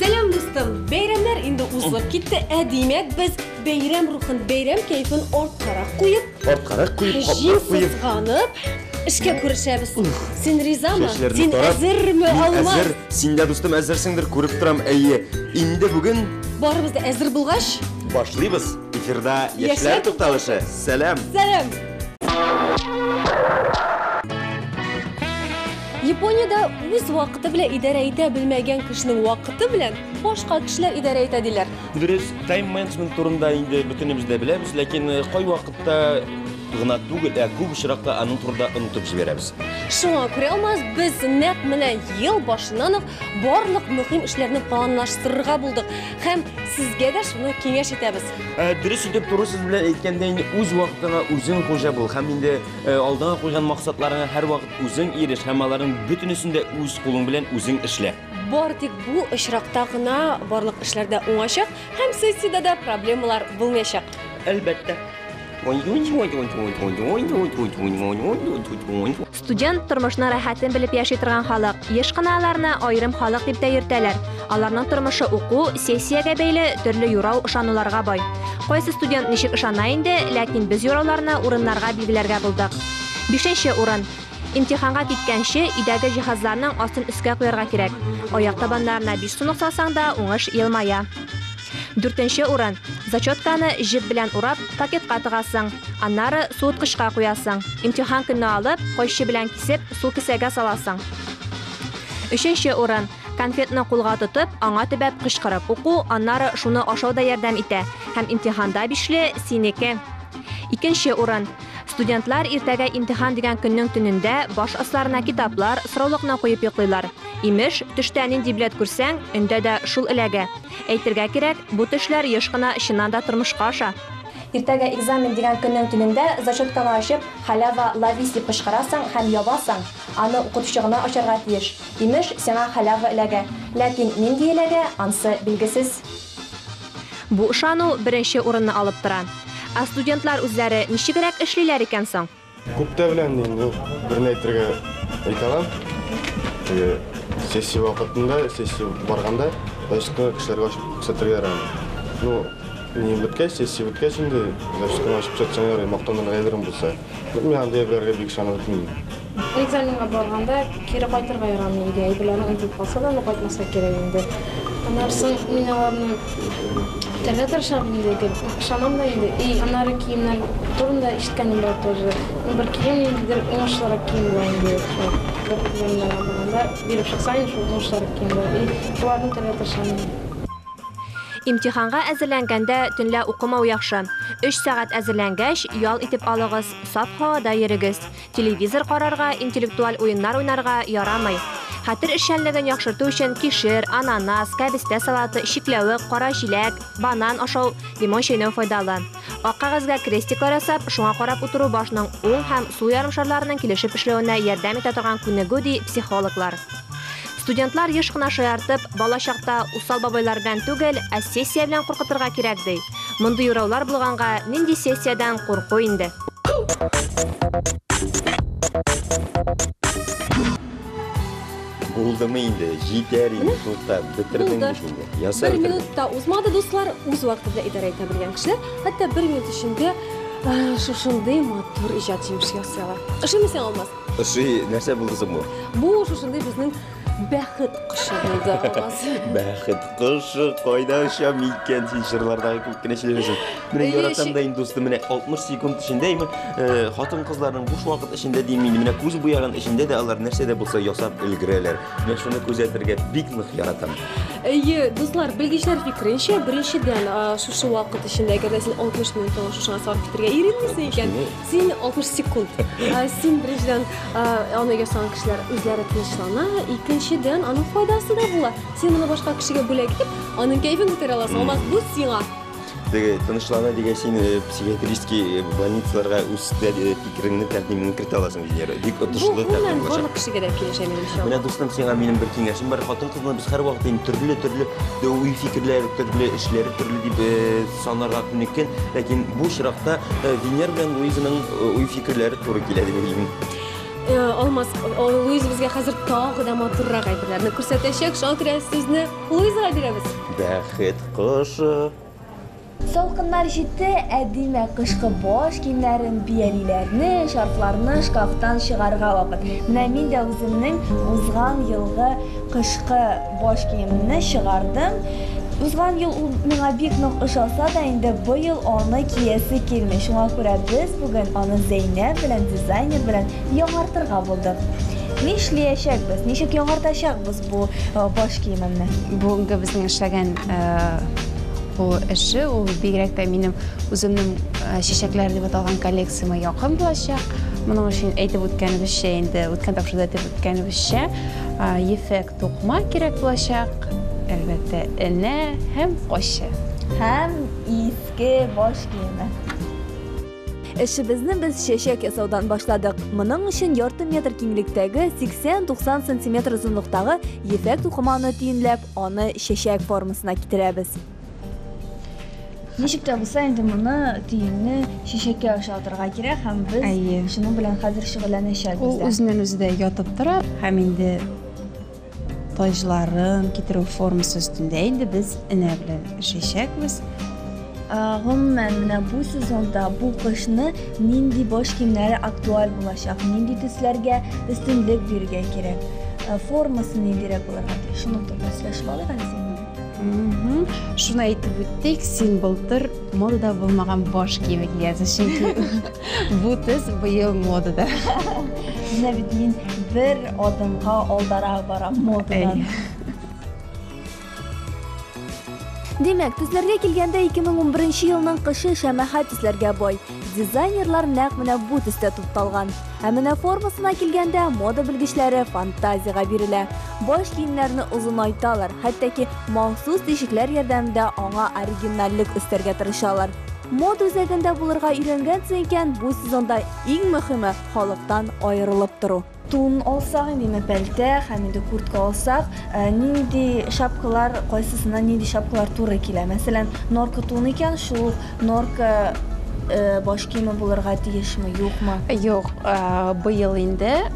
Сәлам, дустым! Бәйрәмнәр инде узып китте, ә димәк без бәйрәм рухын, бәйрәм кәйфен арткарак куеп, Арткарак куеп, җил каплап куеп. сызганып, эшкә күрешәбез. Син ризамы? Чәчләрне Син тарап, әзерме, мин Алмаз? әзер, син дә дустым әзерсеңдер, күреп торам. Әйе, инде бүген Барыбыз да әзер булгач, башлыйбыз. Эфирда Яшьләр яшьләр тукталышы. Сәлам! сәлам! Япониядә үз вакыты белән идарә итә белмәгән кешенең вакыты белән башка кешеләр идарә итә диләр. Дөрес, тайм-менеджмент турында инде бөтенебез дә беләбез, ләкин э, кай вакытта гына түгел, ә күп очракта аның турында онытып җибәрәбез. Шуңа күрә алмаз без нәкъ менә ел башыннан ук барлык мөһим эшләрне планлаштырырга булдык һәм сезгә дә шуны киңәш итәбез. Ә, э, дөрес итеп туры сүз белән әйткәндә инде үз вакытыңа үзең хуҗа бул һәм инде э, алдыңа куйган максатларыңа һәрвакыт Үзең иреш һәм аларның бөтенесен дә үз кулың белән үзең эшлә. Бар тик бу очракта гына барлык эшләр дә уңачак һәм сессиядә дә проблемалар булмаячак. Әлбәттә. Студент тормышның рәхәтен белеп яши торган халык. Еш кына аларны аерым халык дип тә йөртәләр. Аларның тормышы уку, сессиягә бәйле, төрле юрау, ышануларга бай. Кайсы студент ничек ышана инде, ләкин без юрауларны, урыннарга билгеләргә булдык. Бишенче урын. Имтиханга киткәнче, өйдәге җиһазларның астын өскә куярга кирәк. Аяк табаннарына биш сумлык салсаң да, уңыш елмая. Дүртенче урын. Зачетканы җеп белән урап, пакетка тыгасың. Аннары суыткычка куясың. Имтихан көнне алып, кайчы белән кисеп, сул кесәгә саласың. Өченче урын. Конфетны кулга тотып, аңа төбәп кычкырып уку, аннары шуны ашау да ярдәм итә. Һәм имтиханда бишле, синеке! Икенче урын. Студентлар иртәгә имтихан дигән көннең төнендә баш асларына китаплар, сраулыкны куеп йоклыйлар. Имеш, төштә нинди билет күрсәң, өндә дә шул эләгә. Әйтергә кирәк, бу төшләр еш кына чыннан да тормышка аша. Иртәгә экзамен дигән көннең төнендә зачетканы ачып, Халява ловись дип кычкырасың һәм ябасың. Аны укытучы гына ачарга тиеш. Имеш, сиңа халява эләгә. Ләкин нинди эләгә, ансы билгесез. Бу ышану беренче урынны алып тора. Ә студентлар үзләре ничегрәк эшлиләр икән соң? Күптә белән мин бу берне әйтергә әйтә алам. Теге сессия вакытында, сессия барганда, зачетны кешеләргә ачып күрсәтергә ярамый. Ну, ни беткәч, сессия беткәч инде, зачетны ачып күрсәтсәң ярый, мактанырга әйберең булса. Мин андый әйберләргә бик ышанып бетмим. Экзаменга барганда кире кайтырга ярамый иде, әйберләрне онытып калса да, аны кайтмаска кирәк инде. Аннары соң мин аларны үтәргә тырышам инде, гел ышанам да инде. И аннары киемнәр турында ишеткәнем бар тоже. Ну, бер кием ниндидер уңышлырак кием була инде, шулай бер экзаменнарга барганда биреп чыкса инде, шул уңышлырак кием була. И шуларны үтәргә тырышам инде. Имтиханга әзерләнгәндә төнлә укымау яхшы. Өч сәгать әзерләнгәч, ял итеп алыгыз, саф һавада йөрегез. телевизор карарга, интеллектуаль уеннар уйнарга ярамый. Хәтер эшчәнлеген яхшырту өчен кишер, ананас, кәбестә салаты, чикләвек, кара җиләк, банан ашау, лимон чәйнәү файдалы. Ак кәгазьгә крестиклар ясап, шуңа карап утыру башның уң һәм сул ярымшарларының килешеп эшләвенә ярдәм итә торган күнегү, ди психологлар. Студентлар еш кына шаяртып, бала чакта усал бабайлар белән түгел, ә сессия белән куркытырга кирәк, ди. Мондый ураулар булганга, нинди сессиядән курку инде. Булдымы инде, җитәр инде, тукта, бетердең бит инде. Ясар Бер минут та узмады, дуслар, үз вакыты белән идарә итә белгән кешеләр, хәтта бер минут эчендә шушындый матур иҗат җимеше ясыйлар. Ышанмыйсаң, алмаз. Ошый, нәрсә булды соң бу? Бу шушындый безнең бәхет кошы булды аваз. Бәхет кошы кайда оча микән син җырлардагы күп кенә сөйләшәсең. Менә Эйе, яратам ши- да инде дустым, менә 60 секунд эчендә име, э, хатын-кызларның буш вакыт эчендә дим мин, менә күз буяган эчендә дә алар нәрсә дә булса ясап өлгерәләр. Менә шуны күзәтергә бик нык яратам. Әйе, дуслар, белгечләр фикеренчә, беренчедән, а, шушы вакыт эчендә, әгәр дә син 60 минут шушыңа сарыф итәргә иренмисең икән, Син 60 секунд. Ә, Син беренчедән ә, аны ясаган кешеләр үзләре тынычлана, икенчедән аның файдасы да була. Син моны башка кешегә бүләк итеп, аның кәефен күтәрә аласың. Алмаз, бу сиңа. Теге тынычлана дигән син э, психиатрический э, больницаларга үз тә- э, фикереңне тәкъдимеңне кертә аласың Венера. Бик Бу отышлы гомумән тәкъдим булачак. барлык кешегә дә килешә минемчә. Менә дустым, сиңа минем бер киңәшем бар. Хатын-кызны без һәрвакыт инде төрле-төрле уй-фикерләре, төрле эшләре, төрле дип э, Санарга күнеккән, ләкин бу очракта Венер белән Луизаның уй-фикерләре туры килә дип уйлыйм. Алмаз, Луиза безгә хәзер тагы да матуррак әйберләрне күрсәтәчәк. Шуңа күрә сүзне Луизага бирәбез. Бәхет кошы. Салкыннар җитте, ә димәк, кышкы баш киемнәрен, биялиләрне, шарфларны шкафтан чыгарырга вакыт. Менә мин дә үземнең узган елгы кышкы Баш киемне чыгардым. Узган ел ул миңа бик нык ошаса да, инде быел аны киясе килми. Шуңа күрә без бүген аны Зәйнәб белән дизайнер белән яңартырга булдык. Нишлиячәкбез, ничек яңартачакбыз бу баш киемемне? Бүгенге безнең эшләгән бу эше, ул бигрәк тә минем үземнең чәчәкләр дип аталган коллекцияма якын булачак. Моның өчен әйтеп үткәнебезчә, инде үткән тапшыруда әйтеп үткәнебезчә, ефәк Тукма кирәк булачак, әлбәттә, энә һәм качы. Һәм иске баш киеме. Эшебезне без чәчәк ясаудан башладык. Моның өчен ярты метр киңлектәге, 80-90 сантиметр озынлыктагы ефәк тукыманы төенләп, аны чәчәк формасына китерәбез. Ничек тә булса инде моны төенне шешәккә аша атырга кирәк һәм без Әйе. шуның белән хәзер шөгыльләнәчәкбез. Ул үзеннән үзе дә ятып тора һәм инде таҗларын китерү формасы өстендә инде без энә белән эшләячәкбез. Гомумән, менә бу сезонда бу кышны нинди баш киемнәре актуаль булачак, нинди төсләргә өстенлек бирергә кирәк, формасы ниндирәк булырга тиеш, шуның турында сөйләшеп алыйк әле. Шуны әйтеп үттек, син былтыр модада булмаган баш киеме кигәнсең, чөнки бу төс быел модада. Менә бит мин бер адымга алдарак барам модадан. Димәк, төсләргә килгәндә 2011 елның кышы шәмәхә төсләргә бай. Дизайнерлар нәкъ менә бу төстә тукталган. Ә менә формасына килгәндә, мода белгечләре фантазиягә бирелә. Баш киемнәрне озынайталар, хәтта ки махсус тишекләр ярдәмендә аңа оригинальлек өстәргә тырышалар. Мода үзәгендә булырга өйрәнгәнсең икән, бу сезонда иң мөһиме, халыктан аерылып тору. Тун алсак инде, менә пәлтә һәм инде куртка алсак, нинди шапкалар, кайсысына нинди шапкалар туры килә? Мәсәлән, норка тун икән, шул норка баш киеме булырга тиешме, юкмы? Юк, быел инде,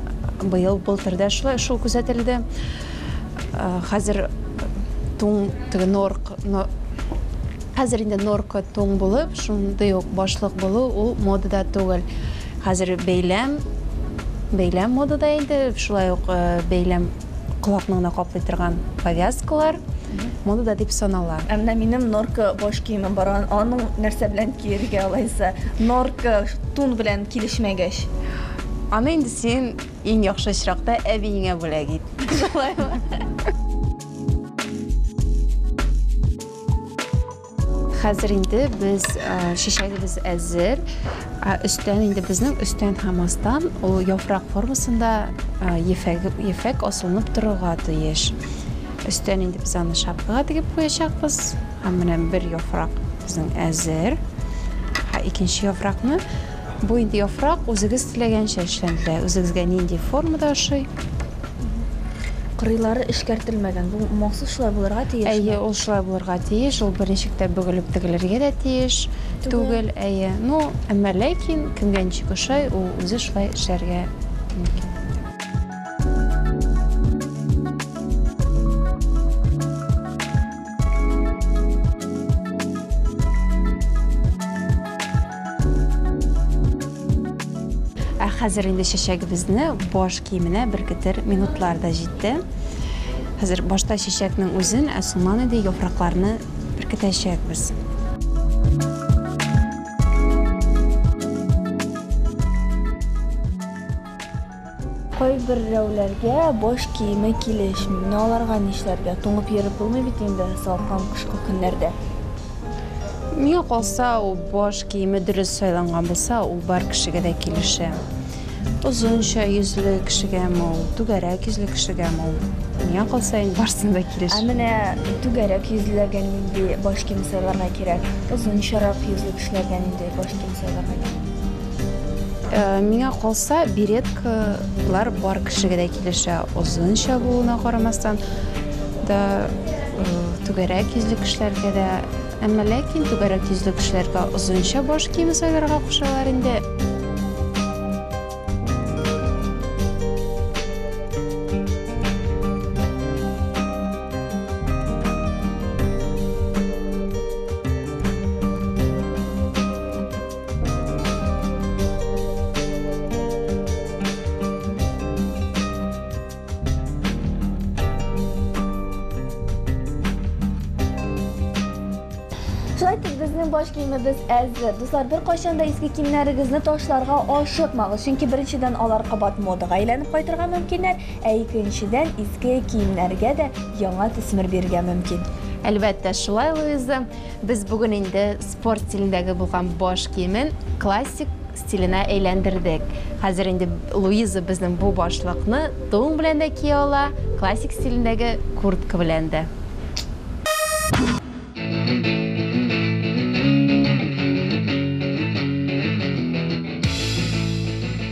быел былтырда шулай шул күзәтелде. Хәзер тун теге норк хәзер инде норка тун булып, шундый ук башлык булу ул модада түгел. Хәзер бәйләм, бәйләм модада инде, шулай ук бәйләм колакны гына каплый торган повязкалар модада дип санала. Ә менә минем норка баш киемем бар, аның нәрсә белән киергә алайса? Норка тун белән килешмәгәч. Аны инде син иң яхшы очракта әбиеңә бүләк ит. Шулаймы? Хәзер инде без чәчәгебез әзер. Өстән инде безнең өстән һәм астан ул яфрак формасында ефәк асылынып торырга тиеш. Өстән инде без аны шапкага тегеп куячакбыз. Һәм менә бер яфрак безнең әзер. Ә икенче яфракны бу инде яфрак үзегез теләгәнчә эшләнде. Үзегезгә нинди формада ошый? Кырыйлары эшкәртелмәгән. Бу махсус шулай булырга тиеш. Әйе, ул шулай булырга тиеш. Ул беренчектә бөгелеп тегелергә дә тиеш. Түгел, әйе. Ну, әмма ләкин кемгә ничек ошай, ул үзе шулай эшләргә мөмкин. Ә хәзер инде чәчәгебезне баш киеменә беркетер минутлар да җитте. Хәзер башта чәчәкнең үзен, ә соңнан инде яфракларны беркетәчәкбез. Кайберрәүләргә баш киеме килешми. Менә аларга нишләргә? Туңып йөреп булмый бит инде салкын кышкы көннәрдә. Миңа калса, баш киеме дөрес сайланган булса, ул бар кешегә дә килешә. Озынча йөзле кешегәме ул, түгәрәк йөзле кешегәме ул? Миңа калса, инде барысына да килешә. Ә менә түгәрәк йөзлеләргә нинди баш кием сайларга кирәк? Озынчарак йөзле кешеләргә нинди баш кием сайларга кирәк? Э, миңа калса, береткалар бар кешегә дә килешә. Озынча булуына карамастан да э, түгәрәк йөзле кешеләргә дә, әмма ләкин түгәрәк йөзле кешеләргә озынча баш киеме сайларга кушалар инде. Сезнең баш киемебез әзер. Дуслар, бер кайчан да иске киемнәрегезне ташларга ашыкмагыз, чөнки беренчедән алар кабат модага әйләнеп кайтырга мөмкиннәр, ә икенчедән иске киемнәргә дә яңа төсмер бирергә мөмкин. Әлбәттә, шулай Луиза. Без бүген инде спорт стилендәге булган баш киемен классик стиленә әйләндердек. Хәзер инде Луиза безнең бу башлыкны тун белән дә кия ала, классик стилендәге куртка белән дә.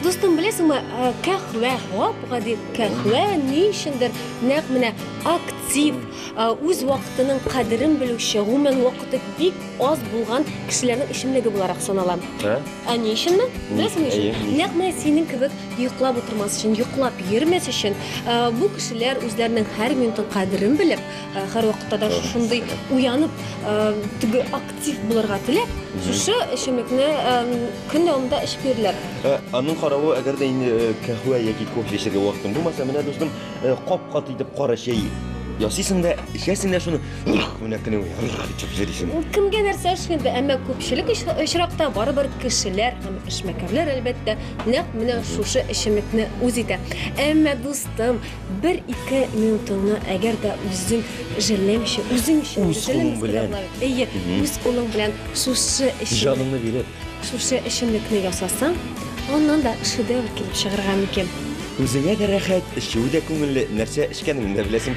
Дустым, беләсеңме, э, кәхвә, гап гади кәхвә ни өчендер нәкъ менә актив, э, үз вакытының кадерен белүче, гомумән вакыты бик аз булган кешеләрнең эчемлеге буларак санала. Ә? Ә ни өченме? Беләсең өчен? Нәкъ менә синең кебек йоклап утырмас өчен, йоклап йөрмәс өчен, ә, бу кешеләр үзләренең һәр минутын кадерен белеп, ә, һәр вакытта да шушындый уянып, ә, теге актив булырга теләп, шушы эчемлекне ә, көн дәвамында эчеп йөриләр. Ә, Аның каравы, әгәр дә инде э, кәһвә яки кофе эчәргә вакытың булмаса, менә дустым, э, кап-кат итеп кара чәй ясыйсың да, эчәсең дә шуны. Менә кенә итеп җөрисең. Ул кемгә нәрсә эшкенде, әмма күпчелек очракта барыбер кешеләр һәм эшмәкәрләр әлбәттә нәкъ менә шушы эчемлекне үз итә. Әмма дустым, бер ике минутыңны әгәр дә үзең җәлләмичә, үзең өчен үз кулың белән, әйе, үз кулың белән шушы эчемлекне җаныңны биреп, шушы эчемлекне ясасаң, аннан да шедевр килеп чыгарга мөмкин. Үзеңә дә рәхәт, эчүе дә күңелле, нәрсә эчкәнеңне дә беләсең.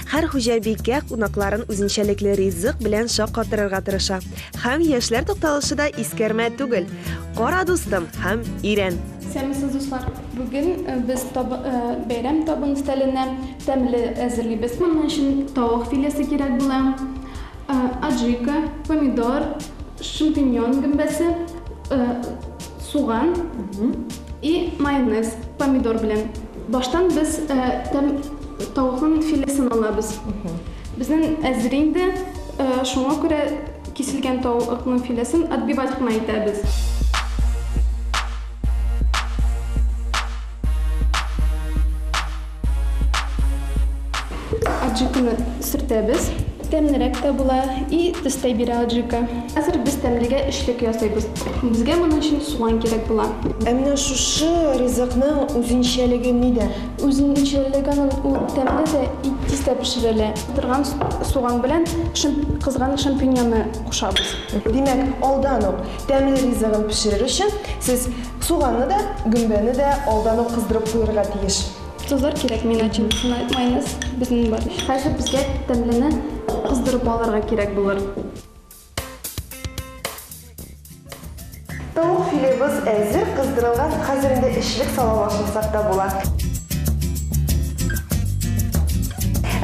Һәр хуҗабикә кунакларын үзенчәлекле ризык белән шаккатырырга тырыша. Һәм яшьләр тукталышы да искәрмә түгел. Кара, дустым, һәм өйрән! Исәнмесез, дуслар! Бүген без табын, бәйрәм табын өстәленә тәмле әзерлибез. Моның өчен тавык филесы кирәк була, аджика, помидор, шампиньон гөмбәсе, суган и майонез, помидор белән. Баштан без тәм тавыкның филесен алабыз. Безнең әзер инде, шуңа күрә киселгән тавыкның филесен отбивать кына итәбез. Аджиканы сөртәбез. Тәмлерәк тә була и төстә бирә аджика. Хәзер без тәмлегә эчлек ясыйбыз. Безгә моның өчен суган кирәк була. Ә менә шушы ризыкның үзенчәлеге нидә? Үзенчәлегеаның ул тәмле дә, ит тиз дә пешерелә. Кыздырган суган белән кызган шампиньонны кушабыз. Димәк, алдан ук тәмле ризыгын пешерер өчен сез суганны да, гөмбәне дә алдан ук кыздырып куерга тиеш. Сазлар кирәкми, начинкасына майонез безнең бар. Хәзер безгә тәмлене кыздырып алырга кирәк булыр. Тавык филебыз әзер кыздырылган, хәзер инде эчлек сала башласак та була.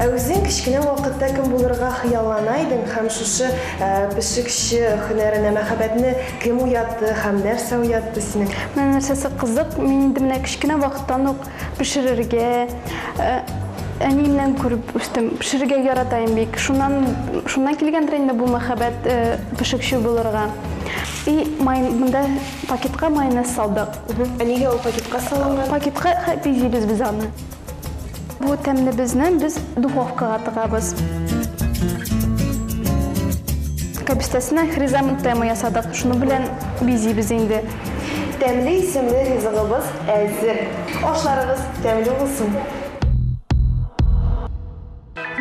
Ә үзең кечкенә вакытта кем булырга хыяллана идең һәм шушы пешекче һөнәренә мәхәббәтне кем уятты һәм нәрсә уятты синең? Менә нәрсәсе кызык, мин инде менә кечкенә вакыттан ук пешерергә әниемнән күреп үстем. Пешерергә яратаем бик. Шуннан шуннан килгәндер инде бу мәхәббәт пешекче булырга. И май монда пакетка майонез салдык. Ә нигә ул пакетка салынган? Пакетка пизибез без аны. Бу тәмнебезне без духовкага тыгабыз. Кәбестәсеннән хризантема ясадык. Шуның белән бизибез инде. Тәмле исемле ризыгыбыз әзер! Ашларыгыз тәмле булсын!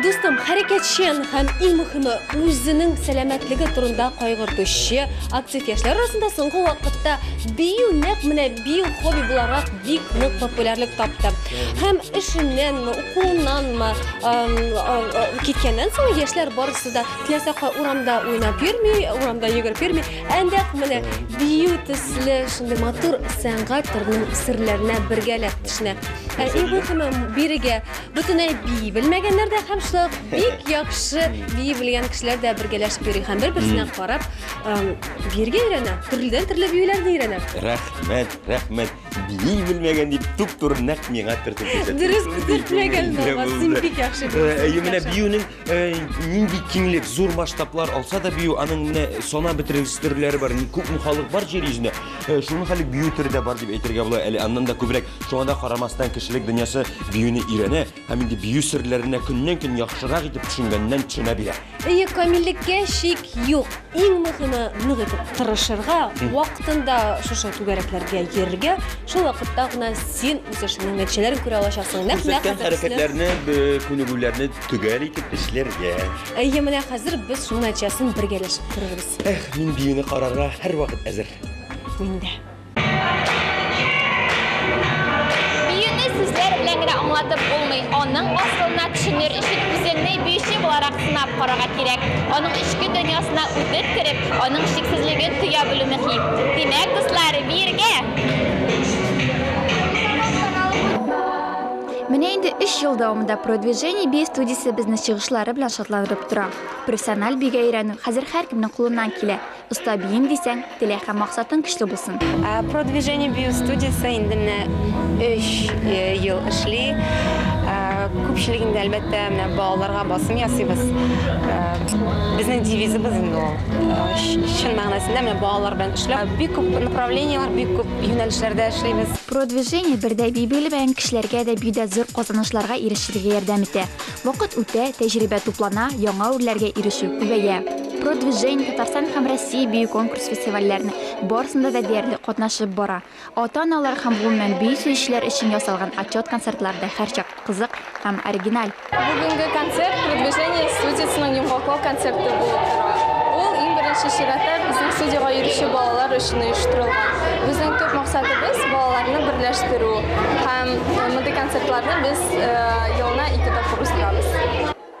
Дустым, хәрәкәтчән һәм иң мөхиме үзенең сәламәтлеге турында кайгыртучы актив яшьләр арасында соңгы вакытта бию нәкъ менә бию хобби буларак бик нык популярлык тапты. Һәм эшеннәнме, укуыннанмы киткәннән соң яшьләр барысы да теләсә кай урамда уйнап йөрми, урамда йөгереп йөрми, Әндәк менә бию төсле шундый матур сәнгать төренең серләренә бергәләп төшенә. Ә иң мөһиме бирегә бөтенләй бии белмәгәннәр дә һәм шулай ук бик яхшы бии белгән кешеләр дә бергәләшеп йөри һәм бер-берсенә карап эм, биергә өйрәнә, төрледән төрле биюләрне өйрәнә. Рәхмәт, рәхмәт. Бии белмәгән дип туп-туры нәкъ миңа төртеп күрсәттең. Дөрес Шундый күңелле төртмәгән булган, син булды. бик яхшы Э, биисең, Әйе, менә яхшы. биюнең нинди киңлек, зур масштаблар алса да бию, аның менә сана бетерелгес төрләре бар. Күп халык бар җир йөзендә. Шуның хәле бию төре дә бар дип әйтергә була. Әле аннан да күбрәк. Шуңа да карамастан кешелек дөньясы биюне өйрәнә һәм инде бию серләренә көннән-көн яхшырак итеп төшенгәннән төшенә бирә. Әйе, камиллеккә шик юк. Иң мөһиме нык итеп тырышырга, вакытында шушы түгәрәкләргә йөрергә, шул вакытта гына син үз эшеңнең нәтиҗәләрен күрә алачаксың. Нәкъ менә хәрәкәтләрне, күнегүләрне төгәл итеп эшләргә. Әйе, менә хәзер без шуның нәтиҗәсен бергәләшеп күрербез. Эх, мин биюне карарга һәрвакыт әзер. Мин дә. Биюне сүзләр белән генә аңлатып булмый. Аның асылына төшенер өчен үзеңне биюче буларак сынап карарга кирәк. Аның эчке дөньясына үтеп кереп, аның чиксезлеген тоя белү мөһим. Димәк, дуслар, биергә! Менә инде 3 ел дәвамында Продвижение бия студиясе безне чыгышлары белән шатландырып тора. Профессиональ бига өйрәнү хәзер һәркемнең кулыннан килә. Оста биим дисәң, теләк һәм максатың көчле булсын. Продвижение бию студиясе инде менә 3 ел эшли. Күпчелегендә, әлбәттә, менә балаларга басым ясыйбыз. Безнең девизыбыз инде ул. Чын мәгънәсендә менә балалар белән эшләү. Бик күп направлениеләр, бик күп юнәлешләрдә эшлибез. Продвижение бердә бию белмәгән кешеләргә дә биюдә зур казанышларга ирешергә ярдәм итә. Вакыт үтә, тәҗрибә туплана, яңа үрләргә ирешү күбәя. Продвижение Татарстан һәм Россия бию конкурс-фестивальләренең барысында да диярлек катнашып бара. Ата-аналар һәм, гомумән, бию сөючеләр өчен ясалган отчет-концертлар да һәрчак. кызык һәм оригиналь. Бүгенге концерт Продвижение студиясенең йомгаклау концерты булып тора. Ул иң беренче чиратта безнең студиягә йөрүче балалар өчен оештырылган. Безнең төп максатыбыз, балаларны берләштерү. Һәм мондый концертларны без елына ике тапкыр уздырабыз.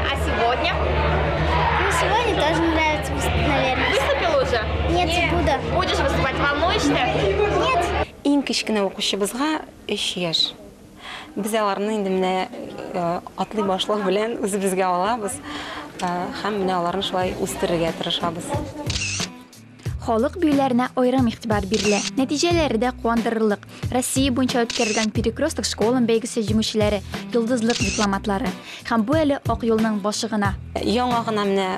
А сегодня? Ну, сегодня тоже мне нравится, наверное. Выступила уже? Нет, Нет. буду. Будешь выступать? Волнуешься? Нет. Иң кечкенә укучыбызга 3 яшь. Без аларны инде менә э, атлый башлау белән үзебезгә алабыз э, һәм менә аларны шулай үстерергә тырышабыз. Халык биюләренә аерым игътибар бирелә. Нәтиҗәләре дә куандырырлык. Россия буенча үткәрелгән Перекресток школам бәйгесе җиңүчеләре, йолдызлык дипломатлары. Һәм бу әле ак юлның башы гына. Яңа гына менә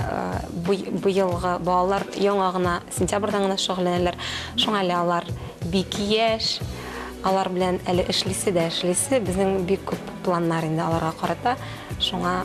быелгы балалар яңа гына сентябрьдән гына шөгыльләнәләр. Шуңа әле алар бик яшь. Алар белән әле эшлисе дә эшлисе. Безнең бик күп планнар инде аларга карата. Шуңа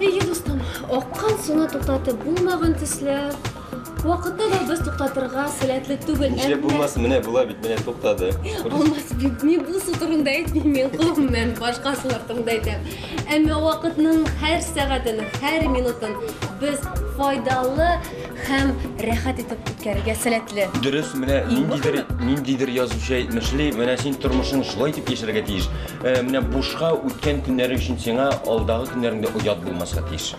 Әйе, дустым, аккан суны туктатып булмаган төсле, вакытта да без туктатырга сәләтле түгел. Ничә булмас, менә була бит, менә туктады. Алмаз бит, мин бу су турында әйтмим, мин гомумән башка сулар турында әйтәм. Әмма вакытның һәр сәгатен, һәр минутын без файдалы һәм рәхәт итеп үткәрергә сәләтле. Дөрес, менә ниндидер ниндидер язучы әйтмешли, менә син тормышың шулай итеп яшәргә тиеш. Э, менә бушка үткән көннәрең өчен сиңа алдагы көннәреңдә оят булмаска тиеш.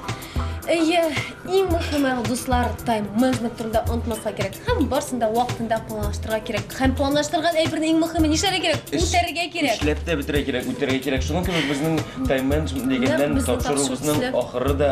Әйе, иң мөхиме дуслар тайм менеджмент турында онытмаска кирәк. Һәм барсын да вакытында планлаштырырга кирәк. Һәм планлаштырган әйберне иң мөхиме нишләргә кирәк? Үтәргә кирәк. Эшләп тә бетерә кирәк, үтәргә кирәк. Шуның кебек безнең тайм менеджмент дигәннән тапшыруыбызның ахыры да